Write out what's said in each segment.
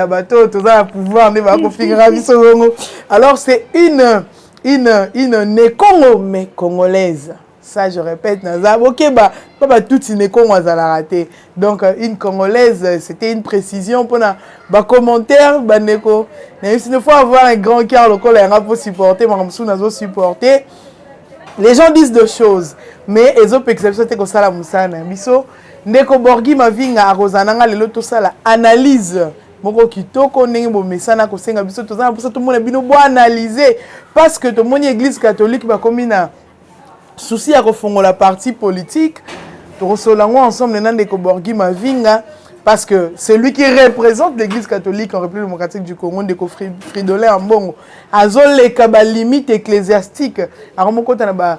ya bato oyo toza na pouvoir nde bakofingaka biso bongo alors c'est une une une nekongo mais congolaise ça je répète naza bokeba mpo batuti nekongo azalaka te donc euh, une congolaise c'était une précision mpona bacommentaire bandeko nayebisi ne faut avoir un grand cœur lokola yanga mpo supporte makambo mosusu nazo supporte les gens disent de choses mais ezopekisa biso te kosala mosala na biso Ndeko Borghi Mavinga akozala na nga lelo tosala analyse moko kitoko ndenge bomesana kosenga biso toza na mposa tomona bino boanalyse parce que tomoni église catholique bakomi na souci ya kofongola parti politique tokosolola yango ensemble na ndeko Borghi Mavinga parce que celui qui représente l'église catholique en république démocratique du congo ndeko fridolin ambongo azoleka balimite ecclésiastique akomokota na ba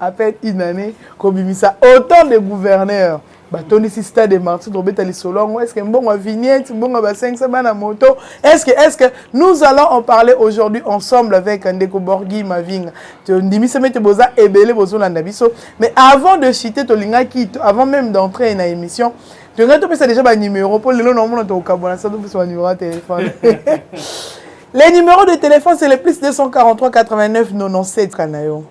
à peine une année kobimisa autant de gouverneurs batondisi stade martin tobeta lisolo yango estce mbongo ya vignette mbongo ya basengisa bana moto estce estce nous allons en parler aujourd'hui ensemble avec ndeko borgi mavinga tondimisami ete boza ebele bozolanda biso mais avant de chiter tolingaki avant même d'entrer na émission tolingaki topesa déjà banuméro mpo lelo naomona tokokabwana sa topesa banuméro ya telefone les numéros de téléphone c'est le plus 243 89 97 kanayo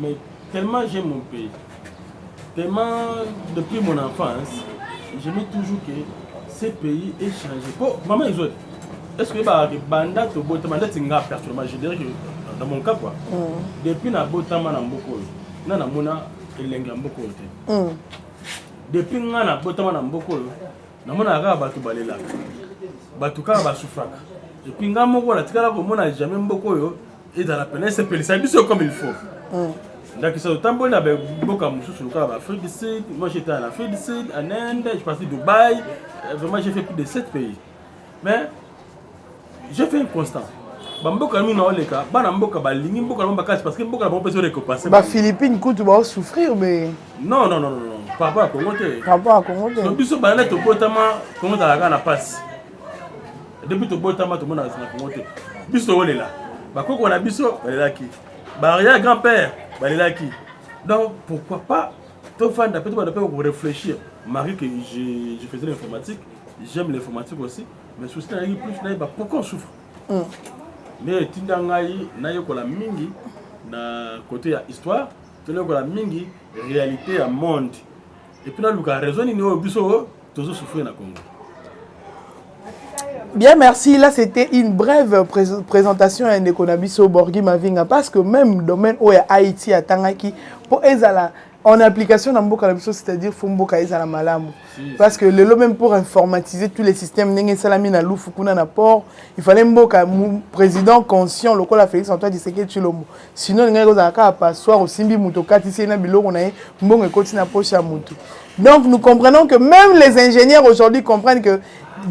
Mais tellement j'aime mon pays, tellement depuis mon enfance, je me toujours que ce pays est changé. Bon, maman Isoy, est-ce que bah, banda to botama ndeti nga personnellement, je dirais que dans mon cas quoi. Mm. Depuis na botama na mboko, na na mona elengi ya mboko te. Mm. Depuis nga na botama na mboko, na mona kaka bato balelaka. Bato kaka basufraka. Epuis nga moko natikala komona jamais mboko oyo ezala mpena esepelisa biso comme il faut mm. ndakisa otamboli na boka mosusu lokola baafrique du sud moi j'étais en afrique du sud en inde je parti dubaï euh, vraiment j'ai fait plus de 7 pays mais j'ai fait un constant bamboka mino oleka bana mboka balingi mboka na bango bakasi parce que mboka na bango mpe ezorekopanse baphilippine kutu baosouffrir mais non non non non papa ya kongo te papa ya kongo te biso bana tobotama kongo ezalaka na mpasi depuis tobotama tomona na kongo te biso tokolela bakoko na biso balelaki baria grand père balelaki donc pourquoi pas tofanda mpe tobanda mpe korefléchir marie que je, je faisais l'informatique j'aime l'informatique aussi mais souci nayaki plus nayeba pourquoi on souffre mm. nde etinda ngai nayekola mingi na côté ya histoire tonayekola mingi réalité ya monde Et puis là, Lucas, raison nini oyo biso tozo souffrir na Congo. Bien, merci. Là, c'était une brève pré présentation à Nekonabiso Borghi Mavinga parce que même domaine où Haïti à Tangaki, pour Ezala, en application dans Mboka Nabiso, c'est-à-dire Fumboka Ezala Malamu. Parce que le même pour informatiser tous les systèmes, Nenge Salami na Loufou, Kuna na Port, il fallait Mboka, président conscient, le Félix Antoine Tshisekedi Chilombo. sinon olingaki kozala kaka passoire osimbi moto okatisi ye na biloko na ye mbongo ekoti na poche ya moto donc nous comprenons que même les ingénieurs aujourd'hui comprennent que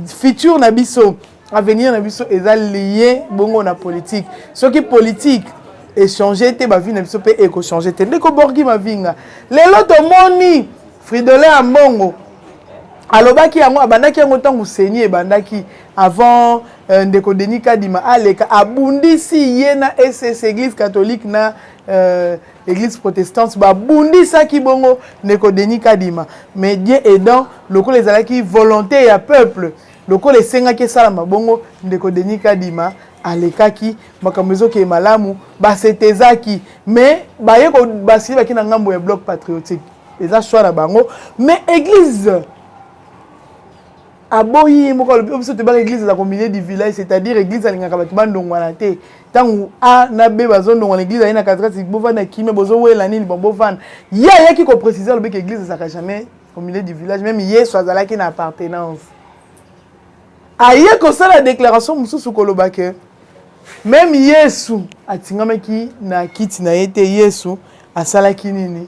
futur na biso avenir na biso eza lié bongo na politique soki politique echange te bavie na biso mpe ekochange te ndeko borgi mavinga lelo tomoni fridole ya mbongo alobaki yango abandaki yango ntango seni ebandaki avant Euh, ndeko Denis Kadima aleka abundisi ye na SS Église catholique na euh, Église protestante babundisaki bongo ndeko Denis Kadima mais Dieu aidant lokola ezalaki volonté ya peuple lokola esengaki esalama bongo ndeko Denis Kadima alekaki makambo ezokee malamu basetezaki mais baye basili baki na ngambo ya bloc patriotique eza choix na bango mais église aboyi ye moko alobi biso toyebaka eglise eza komilie du village c'est-à-dire eglise alingaka bato bandongwana te ntango a na b bazondongwana eglise aye na katikati bovanda kimia bozowela nini bon bovanda ye ayaki koprécise alobiki eglise ezalaka jamais au milieu du village même yesu azalaki na appartenance aye kosala déclaration mosusu koloba ke meme yesu atingamaki na kiti na ye te yesu asalaki nini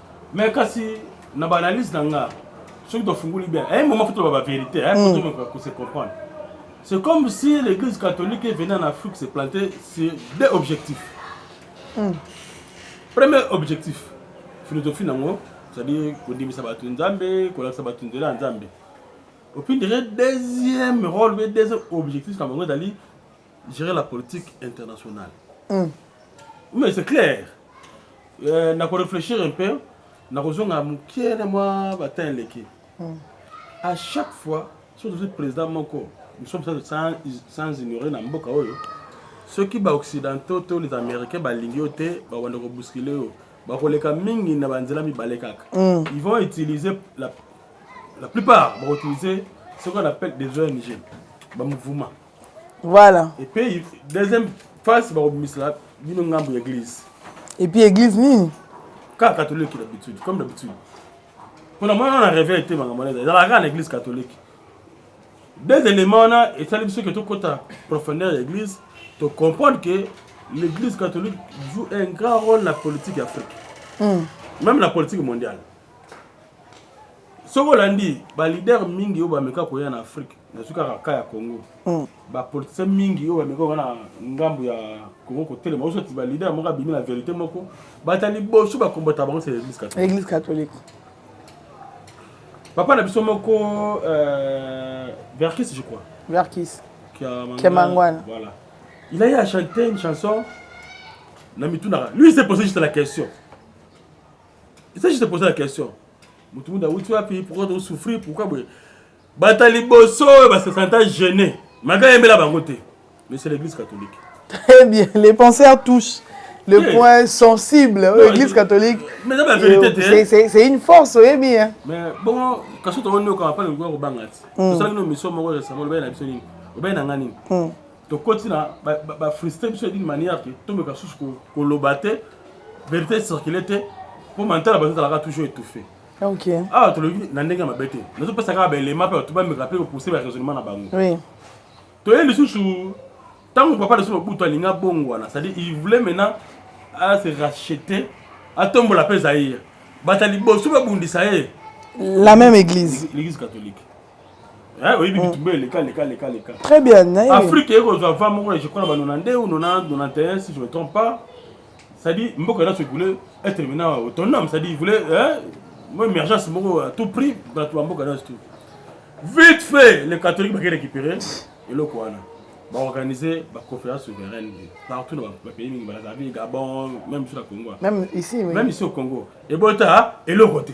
Mais kasi na ba analyse na nga soki to funguli bien eh moment faut ba vérité eh faut mm. to ko se comprendre. C'est comme si l'église catholique est venue en Afrique se planter sur deux objectifs. Mm. Premier objectif philosophie nango c'est-à-dire kondimisa bato nzambe kolakisa bato nzela ya nzambe opindire deuxième rôle pe deuxième objectif na bango ezali gérer la politique internationale. Mm. Mais c'est clair. Euh, na ko réfléchir un peu, na ko zonga mukie na moi batin leki. Mm. À chaque fois, sur le président moko, nous sommes sans, sans ignorer na mboka oyo. Ceux qui ba occidentaux, tous les américains ba lingio te, ba wanda ko bousculer yo. Ba ko leka mingi na banzela mi baleka. Mm. Ils vont utiliser la la plupart ba utiliser ce qu'on appelle des ONG, ba mouvements. voilà et puis deuxième face bakobimisela bino ngambo ya église et puis église nini kaka catholique d'habitude comme d'habitude mpona mwana na reve ete makambo wana ezalaka kaka na église catholique deux éléments wana esali biso ke tokɔta profondeur ya église to comprendre que l'église catholique joue un grand rôle na politique ya afrique mm. même na politique mondiale soki olandi balider mingi oyo bameka koya na afrike nazwi kaka ka ya congo mm. bapolitisien mingi oyo bameka koya na ngambo ya congo kotelema osoti balider moko abimi na verité moko bata liboso bakombata bango se église catholique papa na biso moko euh, verkis je crois verkis kiamangwana voilà il a eu à chanter une chanson na mitunaka lui s'est posé juste la question eza juste poser la question motu mutu awuti wapi pourquoi to souffrir pourquoi boye bata liboso oyo ba se senta gene maka yembela bango te mais c'est l'église catholique très bien les penseurs touchent le oui. point sensible non, l'église catholique mais la vérité euh, c'est c'est une force oyebi hein mais bon kaso to woni ko apana ko banga ti to sala no mission moko ya samolo ba na biso nini ba na ngani tokoti na bafrustre biso d'une manière ke tomeka susu koloba te verité circule te mpo mantala bato ezalaka toujours étouffé awa tolobi na ndenge ya mabe te nazopesa kaka baelema mpe bato bameka mpe kopousse baraisonnement na bango toye lisusu ntango papa lisusu mobutu alingi abongwana c'est-à-dire il voulait maintenant ase racheter atombola mpe zaire bato ya liboso babundisa ye la même église l'église catholique Eh, oyebi mm. bitumba eleka leka leka leka très bien naye afrique eye kozwa va moko je crois na ba 92 ou 91 si je me trompe pas c'est-à-dire mboka elaso voulait être maintenant autonome c'est-à-dire voulait mo émergence moko à tout prix bato ba mboka elaso tout vite fait les catholiques baki récupérer eloko wana baorganiser baconférence souveraine partout na bapays mingi balazali gabon même biso na congo même ici au congo ebota eloko te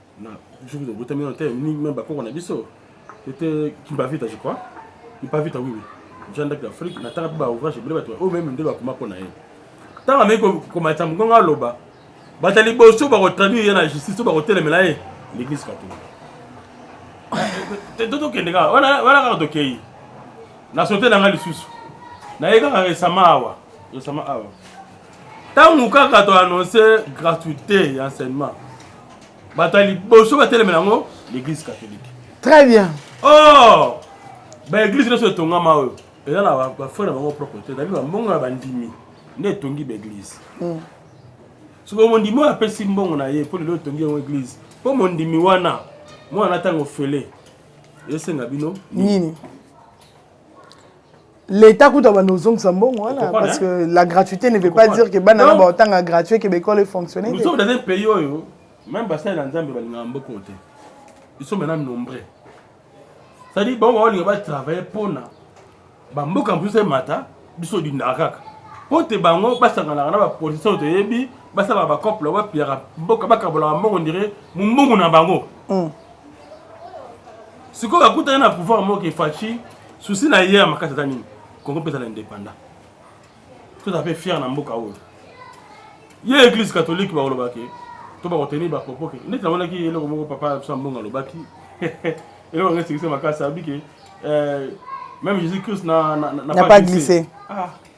na jour de botami na tele ni même bakoko na biso ete kimbavita je crois kimbavita oui oui janda de l'Afrique na tanga ba ouvrage bile bato o même nde bakoma pona ye tanga me ko komata mkonga aloba bata liboso ba ko traduire ye na justice to ba ko telemela ye l'église catholique to tokende kaka wana wana kaka tokei na sote na ngai lisusu naye kaka resama awa resama awa ntango kaka to annonce gratuité ya enseignement bato ya liboso batelemela yango l'église catholique très bien or baeglise nyonso etongama oyo eza na bafrai na bango propre te ezali bambongo ya bandimi nde etongi baeglise hmm. soki mondimi oyo apesi mbongo na ye mpo lelo etongi yango eglise mpo mondimi wana mwana ntango ofele esenga bino nini L'État coûte à nos zombies bon voilà parce hein? que la gratuité ne veut pas dire que bana na ba tanga gratuit que l'école est fonctionnelle. Nous sommes dans un pays où oh, même bassin dans Zambie ba linga mboko te. Ils sont maintenant nombreux. Ça dit bon on va travailler pour na ba mboka plus mata biso di ndakaka. Po te bango basanga na ba position te yebi basala ba couple wa piara mboka bakabola mbongo ndire mbongo na bango. Mm. Sikoyo akutani na pouvoir moko ke Fatshi souci na ye ya makasi eza nini? Congo mpe ezala indépendant. Toza mpe fier na mboka oyo. Ye église catholique bakoloba ke to bakotenir ba propos ke ndeti namonaki eloko moko papa ya biso ya mbongo alobaki eloko yango esekisi makasi alobi ke eh, même Jésus Christ na, na, na, na pas glissé. Ah.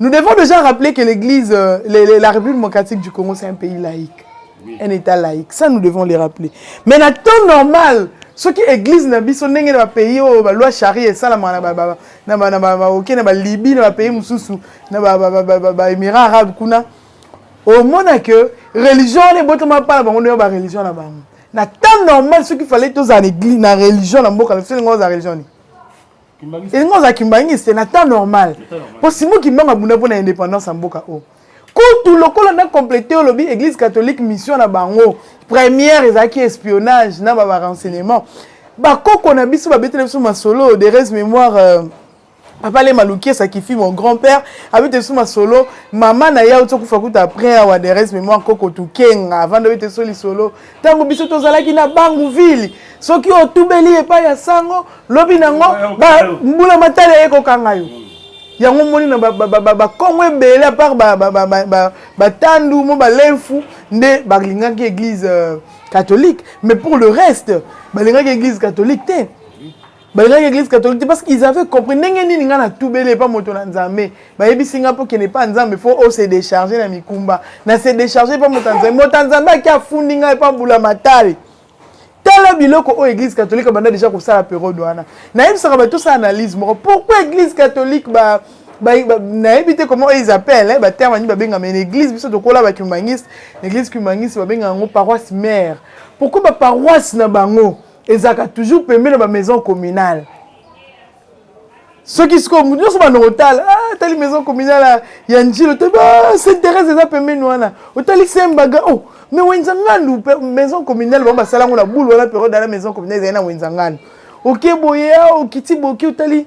Nous devons déjà rappeler que l'Église, euh, la République démocratique du Congo, c'est un pays laïque. Oui. Un État laïque. Ça, nous devons les rappeler. Mais le temps normal, ce qui église na biso ndenge na pays oyo ba loi charia esalama na ba ba na ba na ba ba oke na ba Libye na ba pays mususu na ba ba ba ba ba Émirats arabes kuna au monde que religion les botoma pas bango ndio ba religion na bango na temps normal ce qu'il fallait tous en église na religion na mboka na biso ndenge za religion ni elingi oza kimbangisi te na temps normal mpo simo kimbangu abunda mpo na indépendance ya mboka oyo kutu lokola na complete olobi église catholique mission na bango première ezalaki espionnage na barenseignement bakoko na biso babetela biso masolo de res mémoire euh, papa le maluki esakifi mon grand père abeta biso masolo mama na ye auti okufa kuta après awa de res mémoire koko tukenga avanda obeta biso lisolo ntango biso tozalaki na bangu ville soki otubeli epai ya sango lobi nango mbula matali aye kokanga yo yango omoni na bakongo ebele apart batandu mo balenfu nde balingaki église euh, catholique mais pour le reste balingaki église catholique te balingaki eglise catholique te parce qu'ils avaient compris ndenge nini ngai natubeli epa moto na nzambe bayebisi ngai mpo kende epa nzambe fo o se décharge na mikumba na se décharge epa moto ya nzambe moto ya nzambe ake afundi ngai epa mbula matali tala biloko oyo église catholique abanda déjà kosala periode wana nayebisaka bato osala analyse moko pourquoi église catholique ba nayebi te comment ils appellent baterme nini babengama na église biso tokola bacumaniste na église cumaniste babengaka yango paroisse mare pourquoi baparoisse na bango ezalaka toujours pembe na bamaison communale soki sikoyo moto nyonso banda kotala ah, tali maison communale ya njilo te ah, saint thérèse eza pembeni wana otali sembaga o oh, me wenzangandu maison communale bango basala yango na bulu wana periode ya na maison communale ezali na wenzangandu oke boye ah, okiti boke otali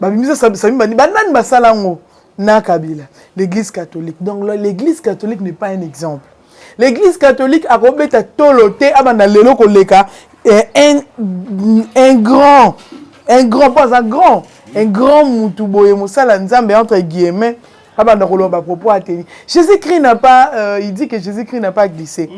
babimisa sami bandi banani basala yango na kabila l'église catholique donc l'église catholique n'est pas un exemple l'église catholique akobeta tolo te abanda lelo koleka eh, un, un grand un grand pas un grand un grand mutu boye mosala nzambe entre guillemets abanda koloba bapropos ateni jésus christ n'a pas euh, il dit que jésus christ n'a pas glissé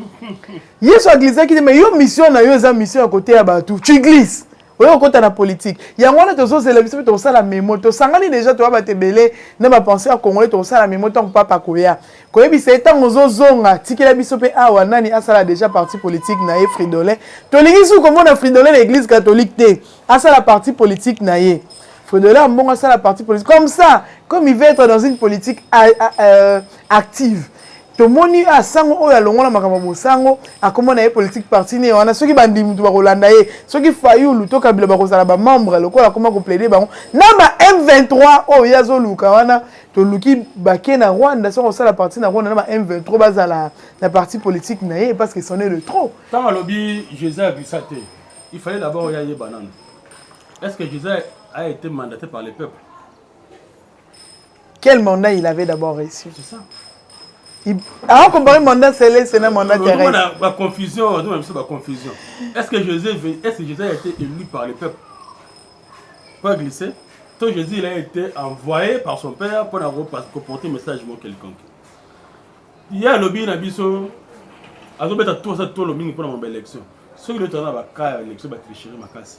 yesu aglisaki te mais yo mission na yo eza mission ya koteya bato tu glisse oyo okota na politique yango wana tozozela biso mpe tokosala memo tosangani deja toya bato ebele na bapense ya congolais tokosala memo ntango papa koya koyebisa ye ntango ozozonga tikela biso mpe awa nani asala deja parti politique na ye fridolin tolingi suki komona fridolin na église catholique te asala parti politique na ye fridolin ambongo asala parti politique comme ça comme il va être dans une politique euh, euh, active tomoni a ah, sango oyo alongola makambo ya bosango akoma na ye politique parti ne wana soki bandimi moto bakolanda ye soki fayulu to kabila bakozala bamembre lokola akoma koplaide bango na ba m23 oyo ye azoluka wana toluki bake na rwanda soki akosala parti na rwanda na ba m23 bazala na parti politique na ye parce que son est le trop ntango alobi jesus abisa te il fallait d'abord oyo ayeba nano est ce que jesus a été mandaté par le peuple Quel mandat il avait d'abord reçu C'est ça. awa compare mandat celeste na mandat terresbaconfusion ozomona biso baconfusion est ce que jésus est ce que jésus a été élu par le peuple pas glissé to jésus il a été envoyé par son père mpo na koporter message mo quelconque ye alobi na biso azobeta tosa tolo mingi mpo na mambo élection soki lotana na bakaa ya élection batricherie makasi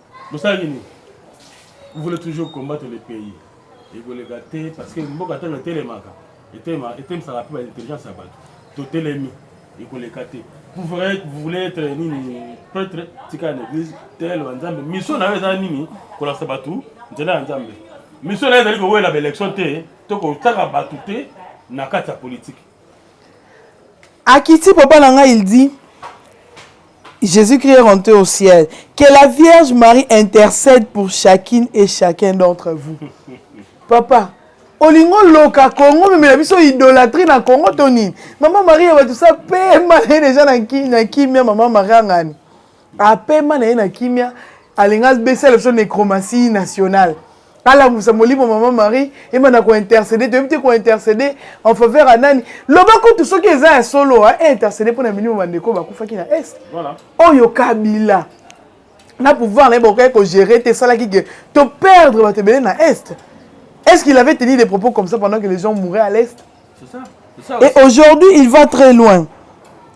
bosalaki nini vous voulez toujours combattre le pays ekoleka te parce que mboka ntango etelemaka etemisaka mpe baintelligence ya bato totelemi ekoleka te vous voulez être nini prêtre tika na église tel wa nzambe mission na yo eza nini kolakisa bato nzela ya nzambe mission na yo ezali kowela baélection te to kotaka bato te na kati ya politike Akiti papa na ngai il dit Jésus-Christ est rentré au ciel. Que la Vierge Marie intercède pour chacune et chacun d'entre vous. Papa, olingo loka Congo memela biso idolatrie na Congo to nini? Mama Maria bato sa pema na ye deja na kimia mama Maria ngani. apema na ye na kimia alinga abesala biso necromatie nationale alamusa molimo mama marie ebanda kointercede toyebi te kointercede en faveur ya nani loba kutu soki eza ya solo eintercede mpo na milimo bandeko bakufaki na est oyo kabila na pouvoir na ye bakokaki kogere te esalaki ke toperdre bato ebele na est est ce qu'il avait tenu des propos comme ça pendant que les gens mouraient à l'est et aujourd'hui il va très loin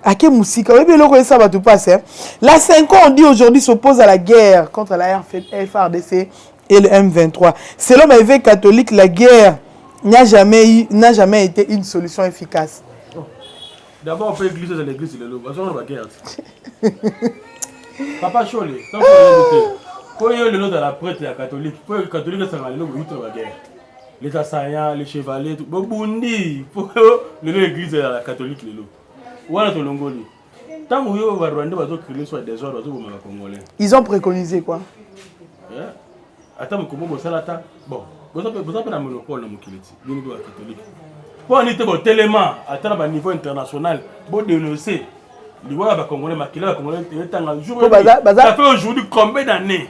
ake mosika oyebi eloko esa bato mpasi hein? la 5 ans on dit aujourd'hui s'oppose à la guerre contre la frdc et le m23 selon ma évêque catholique la guerre n'a jamais, n'a jamais été une solution efficace oh. d'abord on peut glisser dans l'église lelo bazonga na baguerre papa shole tango oyebi te mpo yo lelo ozala prêtre ya catholique mpo catholique esanga lelo boyuti na baguerre les assaillants les chevaliers tout bobundi po lelo l'église ya catholique lelo wana tolongoli ntango yo ba rwandais bazo créer soit désordre bazo bomaka congolais ils ont préconisé quoi eh, ata mokomo bosala ata bon boza mpe na monopole na mokili ti bino mpe ba catholique mpo ani te botelema ata na baniveau international bodenonce liwa ya bacongolais makila ya bacongolais etanga jour baza aujourd'hui combien d'année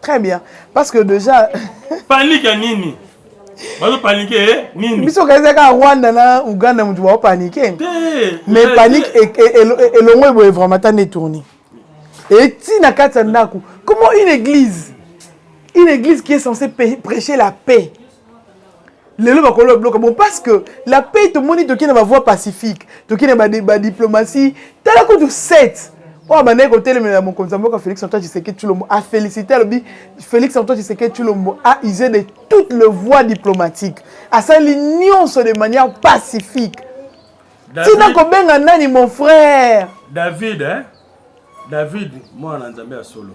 Très bien. Parce que déjà. Panique ya nini? bazo panike eh, nini biso okaisa kaka rwanda na uganda motu bao panike mais panike e, e, e, elongo eboye vraiment ta nde tourni eti na kati ya ndako comment une église une église qui est censée prêcher la paix lelo bakolo babloka bon parce que la paix tomoni toki na bavoie pacifique toki na badiplomatie tala kutu 7 oyo abandaki kotelemela mokonzi ya mboka félix antoine tshisekedi tshilombo afélicité alobi félix antoine tshisekedi tshilombo a usé de toutes les voies diplomatiques asali nyonso de manière pacifique ntina kobenga nani mon frère david eh? david mwana na nzambe ya solo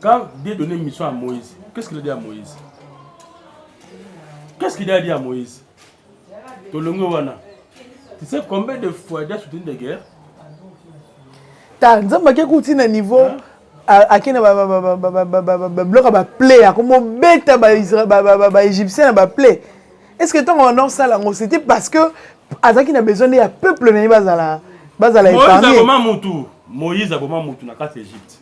Quand Dieu donnait une mission à Moïse, qu'est-ce qu'il a dit à Moïse Qu'est-ce qu'il a dit à Moïse Tolongo wana. Tu sais combien de fois il a soutenu des guerres Ta nzambe akekuti na niveau hein? ake na babiloko ya baplay akomobeta baégyptien na baplay est ce que ntango wana osala yango c'était parce que azalaki na besoin nde ya peuple na ye bazala bazala épargne moïse aboma motu na kati ya égypte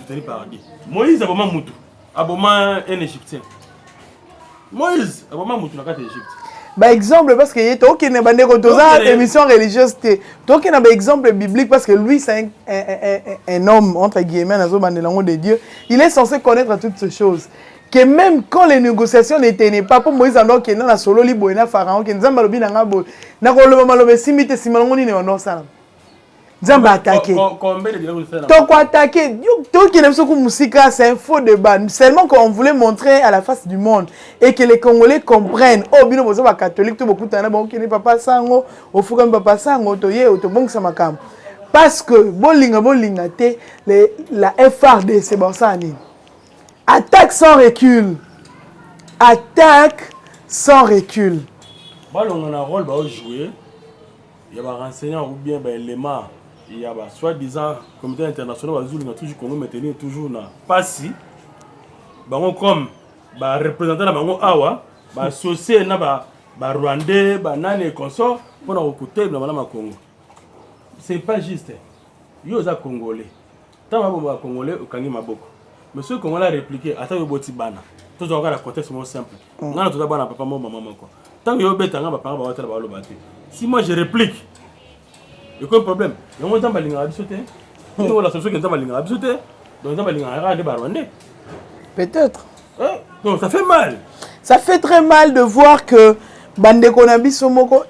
ezali paradis moïse aboma mutu aboma un égyptien moïse aboma mutu na kati ya égypte baexemple parce que ye tokende bandeko toza émission religieuse te tokenda baexemple biblique parce que lui c'est un, un, un, un homme entre guillemets nazobandela yango de dieu il est censé connaître toutes ces choses que même quand les négociations ne tenaient pas mpo moïse ando akenda na sololi boye na pharaon ke nzambe alobi na ngai boye nakoloba maloba esimbi te nsima nango nini bando osalama nzambe atake toko atake tokende biso ku mosika c'est un faux débat seulement qu'on voulait montrer à la face du monde et que les congolais comprennent oyo oh, bino boza bacatholique to bokutana na bokende papa sango ofukami papa sango toye tobongisa makambo parce que bolinga bolinga te la frdc basala nini attaque sans recul attaque sans recul balonga na role baojoue ya ba renseignants ou bien ba elements ya ba soit disant comité international bazulu na toujours Congo maintenir toujours na pasi bango comme ba représentant na bango awa ba associé na ba ba rwandais ba nani et consort pona ko kotelema na Congo c'est pas juste yo oza congolais Tango ba boma ba congolais okangi maboko. Mais soki congolais a repliquer ata yo oboti bana. Tozo kaka na contexte moko simple. Mm. Ngana toza bana papa moko maman moko. Tango yo beta nga ba parents ba wata ba loba te. Si moi je replique. Et quoi problème? Yango nzambe alingaka biso te. Ni hmm. wala soso ke nzambe alingaka biso te. Donc nzambe alingaka kaka nde ba rwandais. Peut-être. Hein? Donc ça fait mal. Ça fait très mal de voir que bandeko na biso moko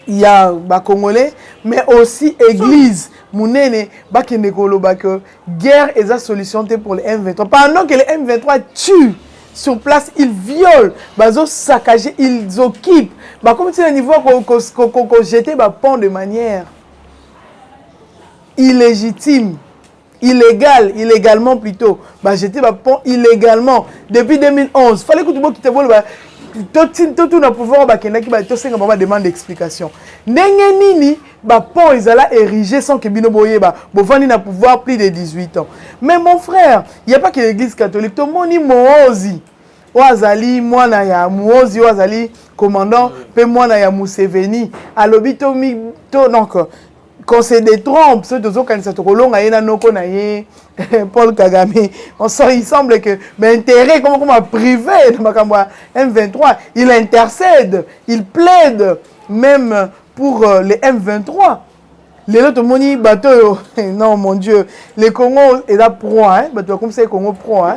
ya ba congolais mais aussi église munene bakende koloba que guerre eza solution te pour le M23 pendant que le M23 tue sur place ils violent bazo saccager ils occupent bakomi ti na niveau kojete bapont de manière illégitime illégal illégalement plutôt bajete bapont illégalement depuis 2011 fallait kutu bokita boloba totuna pouvoir oyo bakendaki tosenga bango bademande d'explication ndenge nini bapont ezala érigé sans ke bino boyeba bovandi na pouvoir plus de 18 ans mais mon frère ya pas ke l'église catholique tomoni moozi oyo azali mwana ya moozi oyo azali commandant mpe mwana ya museveni alobi to donc qu'on se détrompe soki tozokanisa tokolonga ye na noko na ye paul kagame on sort il semble que baintérêt ekoma koma privé na makambo ya m23 il intercède il plaide même pour euh, les m23 lelo tomoni bato oyo non mon dieu le congo eza proa bato bakomisaki congo proa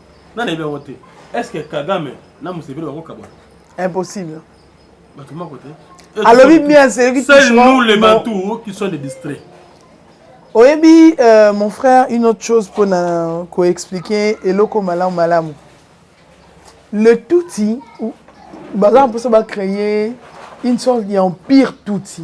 na nayebi yango te est ce que kagame na museveni bakokabwana impossible bato moko te alobi bien seyoki seul nous les bantou qui sont des distraits oyebi euh, mon frère une autre chose mpo na koexplike eloko malamu malamu le tuti baza mposa bacreye une sorte ya empire tuti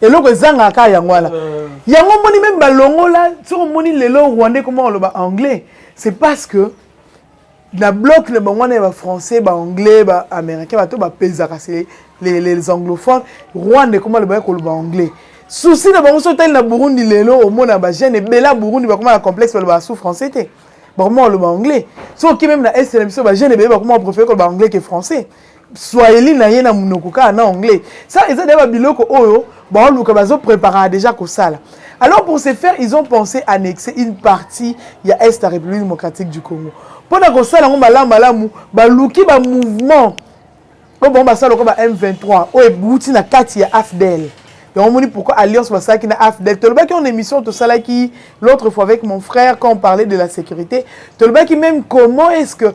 eloko ezangaka kaka yango wana euh. yango moni meme balongola soki omoni lelo rwandais koma koloba anglais c'est parce que na bloc na bango wana ya bafrançais baanglais baaméricain bato bapezaka se les, les anglophones rwanda ekoma loba ya koloba anglais souci na bango soki otali na burundi lelo omona bagene ebele ya burundi bakoma na complexe baloba sous français te bakoma koloba anglais soki oke meme na est na biso bagene ebele bakoma préféré koloba anglais ke français swahili na ye na munoko kaka na anglais ça eza deya babiloko oyo baoluka bazopreparaka déjà kosala alors pour se faire ils ont pensé annexer une partie ya est ya république démocratique du congo mpo na kosala yango malamu malamu baluki bamouvement oyo bango basala lokola ba m23 oyo ebouti na kati ya afdel yango omoni pourquoi alliance basalaki na afdel tolobaki en émission tosalaki l'autre fois avec mon frère quand on parlait de la sécurité tolobaki même comment est ce que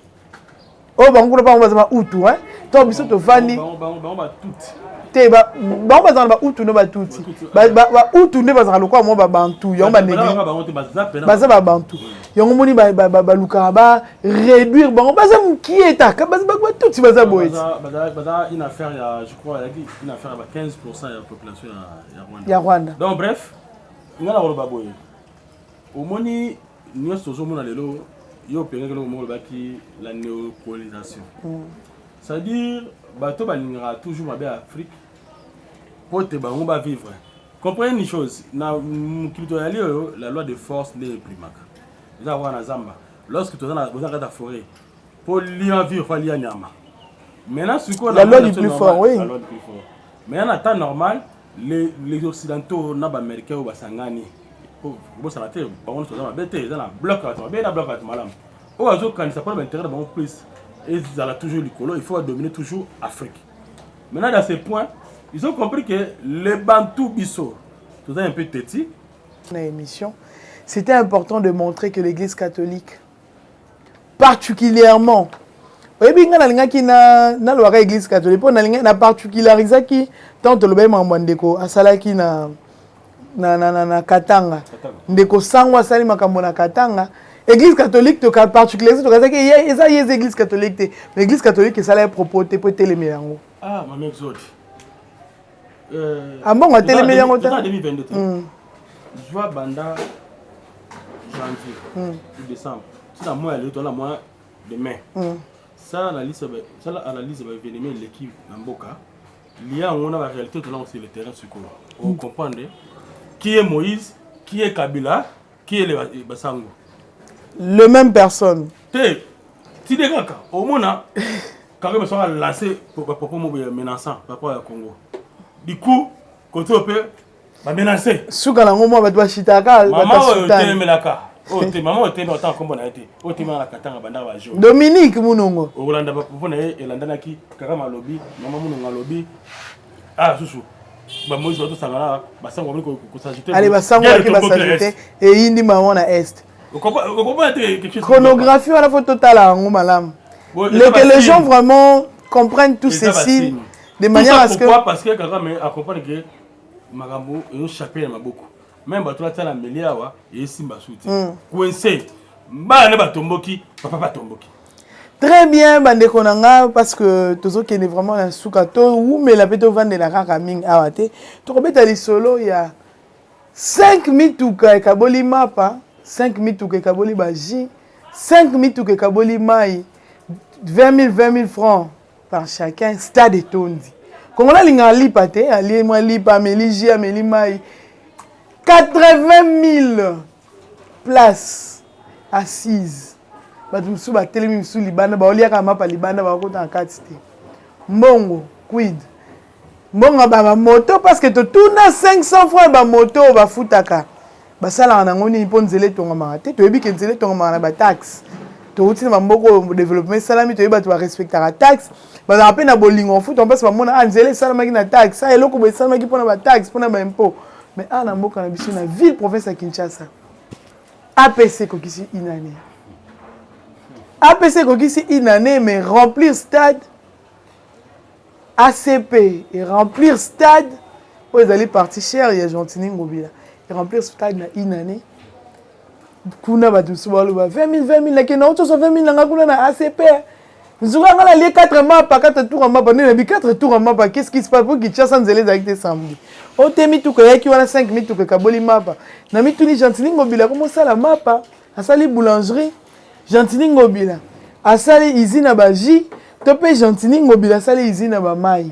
oyo oh, bango kuna bango baza bautu hein? to biso tofandi te bango bazala bautu nde batuti bautu nde bazalaka lokola mwa babantu yango banebaza babantu yango moni balukaka ba réduire bango baza mokie etaka batuti baza boye ya rwanda donc bref nga na koloba boye omoni Nionso tozomona lelo yo opengaki eloko moko olobaki la neocolonisation mm. c'est-à-dire bato balingaka toujours mabe ya afrique mpo te bango bavivre comprendre une chose na mokili toyali oyo la loi de force nde eprimaka eza kaka na zamba lorsque toza na kati ya forêt mpo lia vivre mpo alia nyama maintenant sikoyo la loi du plus fort oui maintenant na temps normal les, les occidentaux na baaméricain oyo basangani kobosana te bango nyonso baza mabe te eza na blok bato mabe na blok bato malamu oyo azokanisa mpona baintérêt na bango plus ezala toujours likolo il faut adomine toujours afrique maintenant dans ce point ils ont compris que les bantou biso toza un peu teti na émission c'était important de montrer que l'église catholique particulièrement oyebi ngai nalingaki nalobaka église catholique mpo na particularisaki ntango tolobaki makambo ya ndeko asalaki na, na, na, na, na katanga ndeko sango asali makambo na katanga église catholique toka particularise tokazaki eza ye eza église catholique te mais église catholique esalaki propos te mpo etelemela yango ah, Euh, ambongo atelemeli yango te hmm. zwa banda janvier hmm. décembre tina moya lelo toala moya de mai hmm. sala analyse sala analyse ya baévénement eleki na mboka lia yango na baréalité tolango sur le terrain sikoyo ocomprendre qui est moïse qui est kabila qui est eh, basango le même personne te tide kaka omona Kagame soki alance bapropos moko ya menaçant par rapport ya Congo du coup kote oyo mpe bamenace suka nango mwa bato bashitaka mama oyo otemelaka oyo te mama oyo te na otanga nkombo na ye te oyo te malaka tanga bandaka ba jour dominique munongo okolanda bapropos na ye elandanaki kagame alobi mama munongo alobi ah susu bamoisi batosangana basango bamoni kosajute ale basango baki basajute eyindi bango na est Chronographie, il faut total à Malamu. Que les gens vraiment comprennent tout ceci de manière à ce que. Pourquoi Parce que Kagame a compris que Magambo est chapé à ma beaucoup. Même bato batala mbeli awa esimba suti coince bana nde batomboki papa batomboki très bien bandeko na nga parce que tozokende vraiment na suka towumela mpe tovandela kaka mingi awa te tokobeta lisolo ya 5 mituka ekaboli mapa 5 mituka ekaboli baji 5 mituka ekaboli mai 20 000 francs par chacun stade etondi kongola alingaka lipa te alie mwa lipa ameli ji ameli mai 80 000 place assise bato mosusu batelemi mosusu libanda baoliaka mapa libanda bakakota na kati te mbongo quid mbongo ba ba moto parce que totuna 500 francs ba moto oyo bafutaka basalaka nango nini mpo nzela etongamaka te toyebi ke nzela etongamaka na bataxe touti na bamboka oyo développement esalami toyebi bato barespectaka taxe bazalaka mpe na bolingo kofuta mpasi bamona a ah, nzela esalamaki na taxe a ah, eloko boye esalamaki mpo na bataxe mpo na baimpôt mais awa ah, na mboka na biso na ville province ya kinshasa apc ekokisi une année apc ekokisi une année mais remplir stade ACP e remplir stade oyo ezali parti chère ya Gentini Ngobila e remplir stade na une année kuna bato mosusu baloba 20 000 20 000 nakenda auti oso 20 000 nanga kuna na ACP nzuka nga nalie 4 mapa 4 tour mapa nde nabi 4 tour mapa qu'est-ce qui se passe po Kinshasa nzela ezalaki te samedi ote mituka eyaki wana 5 mituka ekaboli mapa na mituni Gentini Ngobila komosala mapa asali boulangerie gentini ngobila asali izine ya baji to mpe gentini ngobila asali izine ya bamai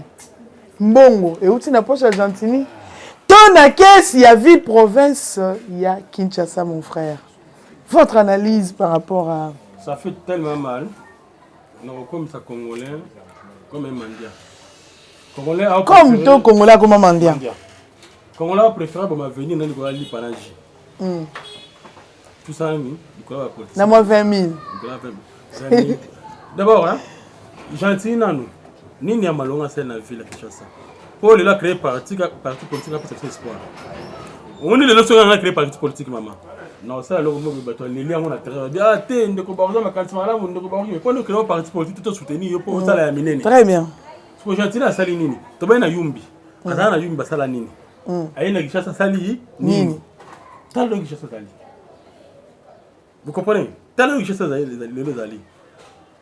mbongo euti na poche ya gentini to na kesi ya ville province ya kinshasa mon frère votre analyse par rapport à ça fait tellement mal nakokomisa congolais comme mandia congolais comme to congolais akoma mandia congolais apréférable boma venir nani koya lipa na ji Hmm. na mwa 20 000 d'abord hein, gentille nanu nini ya malonga asali na ville ya kinshasa mpo lelo acree parti politique apesa biso espoir omoni lelo soki anga acree parti politique mama naosala eloko moko bato aleli yango na terrain babi ah te ndeko bakoza makanisi malamu ndeko bakoki mpo nde créo parti politique to soutenir yo mpo osala ya minene très bien siko gentille asali nini tobai na yumbi azala na yumbi basala nini Mm. Aye na Kinshasa asali nini? Tala lelo Kinshasa ezali. Vous comprenez? Tala lelo Kinshasa ezali lelo ezali.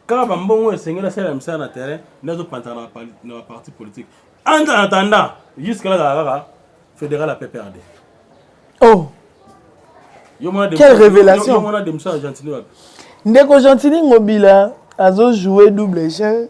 Kaka ba mbongo esengeli asala misala na terrain nazo pantana na na parti politique. En attendant, jusque là kaka fédéral à PPRD. Oh. Quelle révélation. Yo mona de Moussa Gentini wapi? Ndeko Gentini Ngobila azo jouer double jeu.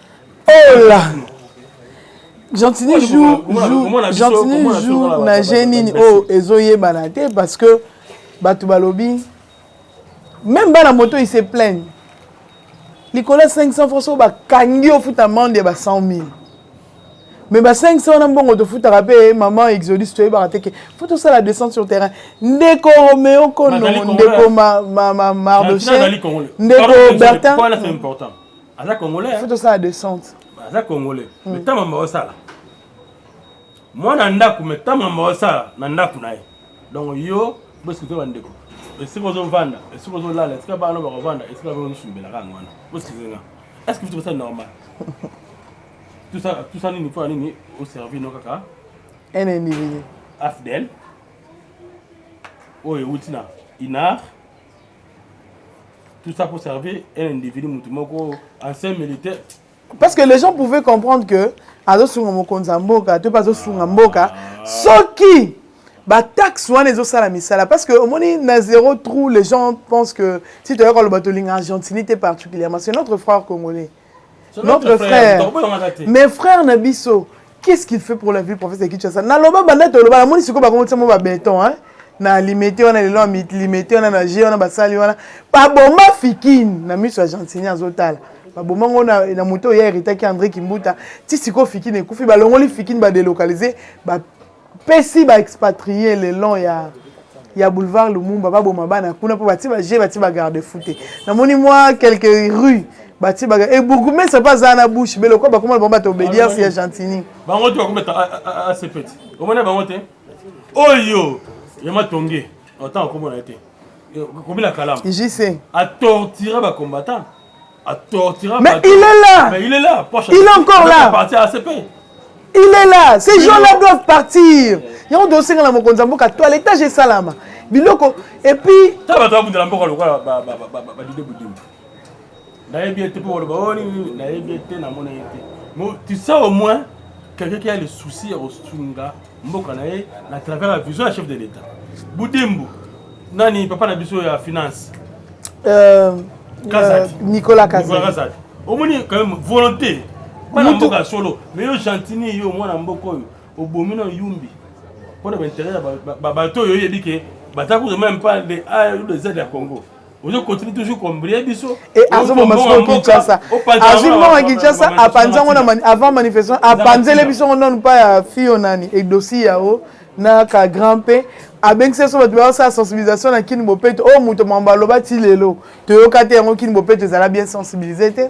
Oh là Gentini joue Gentini joue na je nini oyo ezoyebana te parce que bato balobi même bana moto il se plaigne likolo ya 500 francs oyo bakangi ofuta mande ya ba 100 000 mais ba 500 wana mbongo tofutaka mpe maman exodus toyebaka te ke fo tosala descente sur terrain ndeko romeo kono ndeko mardoche ndeko bertin aza congolais hein? faut tosala descente aza congolais hmm. mais ntango mamba osala mwana ndako mais ntango mamba osala na ndako na ye donc yo bosikute bandeko esika ozovanda esika ozolala esika bana bakovanda esika ozosumbelaka yango wana bosikizenga est ce que tosa normal tosa nini mpo ya nini oservi no kaka un individu afdel oyo euti na inar tout ça pour servir un individu moto moko ancien militaire parce que les gens pouvaient comprendre que azosunga mokonzi ya mboka to mpe azosunga mboka soki bataxe wana ezosala misala parce que omoni na zéro trou les gens pensent que si toyaka loba tolinga argentini te particulièrement c'est notre frère congolais notre frère mais frère na biso qu'est-ce qu'il fait pour la ville province ya kinshasa naloba banda toloba namoni sikoyo bakomotia mo babeton hein na limete wana lelo ya limete wana na je wana basali wana babomba fikini na miso ya gentini azotala baboma ngo na, na moto oyo ya eritaki andré kimbuta ti sikoyo fikini ekufi balongoli fikini badelokalize ba pesi ba expatrier le long ya ya boulevard Lumumba baboma bana kuna mpo batie baje batie bagarde fou te namoni mwa quelques rues batie baga e bourgmestre mpe azala na bouche be lokola bakoma bango bato obedience ya gentini bango te bakometa asepeti omona bango te oyo ya matonge otango akomona ye te kobila kalamu jc atortira bacombattant Mais il est là. Mais il est là. Poche, il est encore là. Parti à ACP. Il est là. Ces gens-là doivent partir. yango tosenga na mokonzi ya mboka toiletage esalama biloko epuis ta bato babundela mboka lokola badide budimbu nayebi ete mpo baloba o oh, nini nayebi ete namona ye te tu sais au moins quelqu'un qui a le souci ya kosunga mboka na ye na travers la vision ya chef de l'etat budembu nani papa na biso ya finance euh, kazati euh, nicolas kazati omoni quand même volonté bana mboka ya solo mais yo gentini yo mwana mboka oyo obomi na yumbi mpo na bainteret ya bato oyo oyebi ke batakuta meme pas le a le z ya congo kinshasa azwi mbongo ya kinshasa apanzi yango avant manifestation apanzele biso ngo nanu mpa ya fio nani edosi yao na ka grand mpe abengisi biso bato baosala sensibilisation na kini bopeto oyo oh, moto mambo aloba ti lelo toyoka te yango kini bopeto ezala bien sensibilise te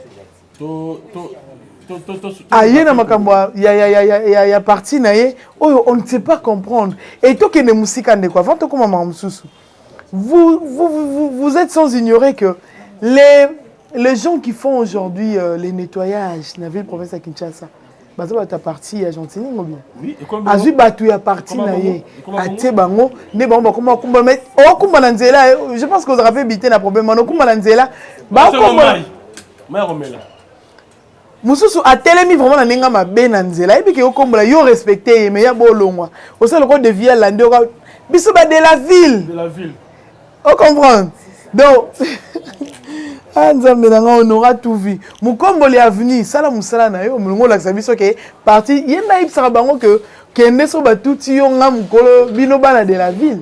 aye na makambo ya parti na ye oyo on ne sait pas comprendre et tokende mosika ndeko avant tokoma makambo mosusu Vous, vous, vous, vous êtes sans ignorer que les, les gens qui font aujourd'hui euh, les nettoyages na ville province ya Kinshasa baza bato ya parti ya gentini ngo bien Oui, et comme azwi bato ya parti Ekoma na bongo, ye ekoma bongo. atie bango nde bango bakoma kumba mais okumba na nzela eh, je pense que ozalaka mpe bite na problème wana okumba na nzela Basolo bakomona mai. Mai ya komela. mususu atelemi vraiment na ndenge mabe na nzela ayebi ke okombola yo respecte ye mais ya bolongwa osala loko de vie alandi oka biso ba de la ville de la ville o comprendre donc ah nzambe na ngai honora tout vie mokomboli avenue sala mosala na yo molongo olakisa biso ke parti ye nayebisaka bango ke kende so batuti yo nga mokolo bino bana de la ville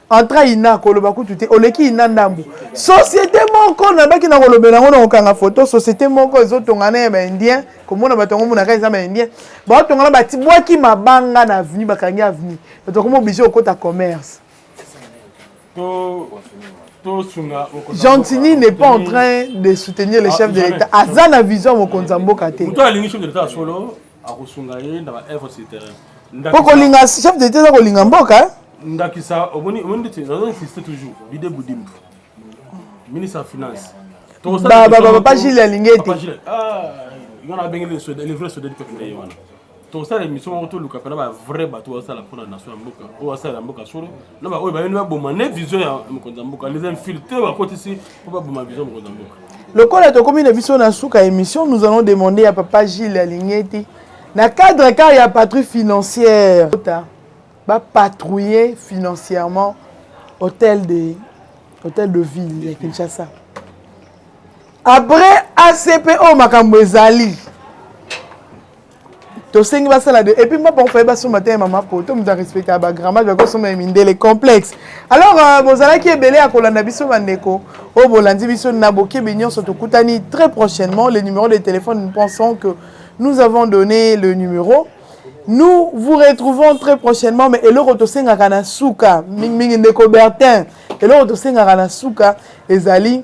entra ina koloba kutu te oleki ina ndambu société moko nabaki na kolobela yango na kokanga foto société moko ezotongana ya baindien komona bato yango monaka eza baindien baotongana batibwaki mabanga na avenue bakangi avenue bato bakoma oblige kokota commerce Gentini n'est pas en train de soutenir les ah, chefs de l'État. Aza na vision mokonzi ya mboka te. akosunga ye na ba œuvres sur terrain po kolinga chef de eza kolinga mboka eh? ndakisa omoni omoni ndeti nazo insiste toujours bide budimbu ministre ya finance papa gile alingi ete nga na bengeli le vrai sodeli peuple na ye wana tosala émission moko toluka mpena ba vrai bato oyo asala mpo na nation ya mboka oyo asala ya mboka solo na baoyo bayeli baboma ne vision ya mokonzi ya mboka les infiltre bakotisi mpo baboma vision mokonzi ya mboka lokola tokomi na biso na suka ya émission nous allons demander ya papa gile alingi ete na cadre kaka ya patrouille financière bapatrouiller financièrement hôtel de, hôtel de ville ya kinshasa après acp oyo makambo ezali tosengi basala de epuis mapa kofaye basomba te ya mama poto moto arespectaka bagrammage bakosomba ya mindele complexe alors euh, bozalaki ebele ya kolanda biso bandeko oyo bolandi biso na bokebi nyonso tokutani très prochainement le numéro de téléphone nous pensons que nous avons donné le numéro nous vous retrouvons très prochainement mais eloko tosengaka na suka mingimingi ndeko bertin eloko tosengaka na suka ezali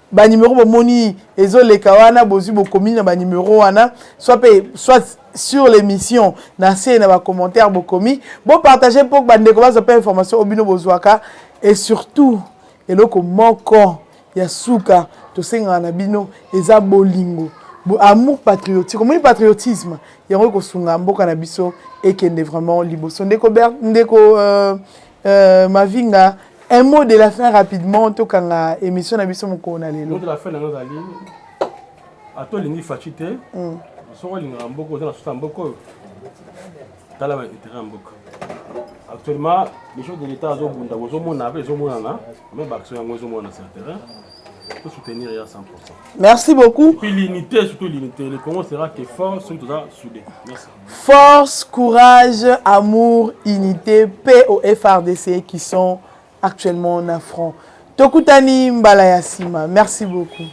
ba numero bomoni ezoleka wana bozwi bokomi na ba numero wana soit mpe soit sur l'émission na se na bacommentaire bokomi bopartage mpo bandeko bazwa mpe information oyo bino bozwaka et surtout eloko moko ya suka tosengaka na bino eza bolingo amour patriotique omoni patriotisme yango ekosunga mboka na biso ekende vraiment liboso ndeko ndeko euh, Euh, Mavinga, un mot de la fin rapidement, tout quand la émission n'a biso moko na lelo. Mot de la fin na nous ali. Ato lingi fachite. Mm. Soko lingi mboko za na suta mboko. Tala ba intérêt mboko. Actuellement, les choses de l'État zo bunda bozo mona pe zo mona na, mais ba action yango zo mona sur terrain. Pour soutenir ya 100%. Merci beaucoup. Puis l'unité, surtout l'unité, le Congo sera que fort, surtout là soudé. Merci. Force, courage, amour, unite, paix au FRDC qui sont actuellement na front. Tokutani mbala ya sima. Merci beaucoup.